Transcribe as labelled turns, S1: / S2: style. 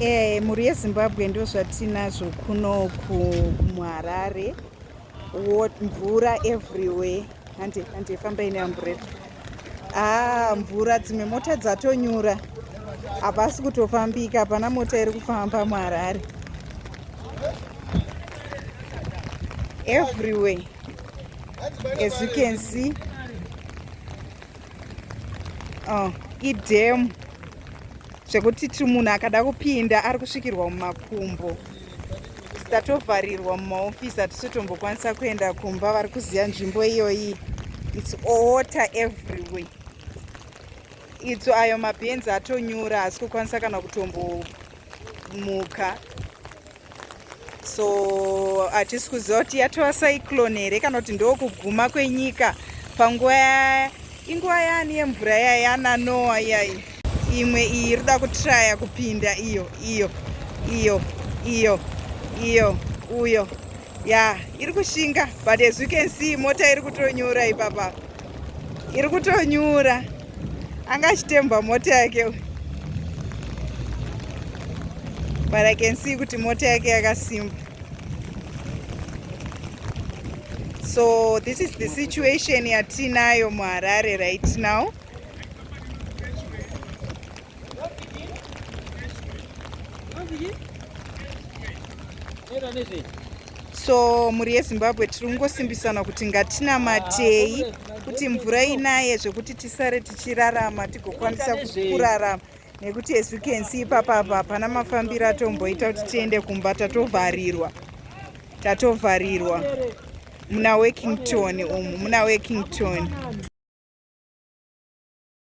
S1: Eh, mhuri yezimbabwe ndo zvatinazvo kuno kumuharare mvura everywhere hande hande famba ine amburera aa ah, mvura dzimwe mota dzatonyura hapasi kutofambika hapana mota iri kufamba muharare everywhere as you can see oh, idhemu zvekuti ti munhu akada kupinda ari kusvikirwa mumakumbo tatovharirwa mumaofisi hatisitombokwanisaa kuenda kumba vari kuziva nzvimbo iyoyi its owater everywhere itso ayo mabhenzi atonyura haasi kukwanisa kana kutombomuka so hatisi kuziva kuti yatova cyclone here kana kuti ndokuguma kwenyika panguva ya inguva yani yemvura yaya yananoa iyai imwe iyi iri kuda kutraya kupinda iyo iyo iyo iyo iyo uyo ya iri kushinga but as you can see mota iri kutonyura ipapa iri kutonyura anga achitemba mota yake but i can see kuti mota yake yakasimba so this is the situation yatiinayo muharare right now so mhuri yezimbabwe tiri kungosimbisana kuti ngatinamatei kuti mvura inaye zvekuti tisare tichirarama tigokwanisa kurarama nekuti as you can see ipapa apa hapana mafambiro atomboita kuti tiende kumba tatovharirwa tatovharirwa muna workington umu muna workington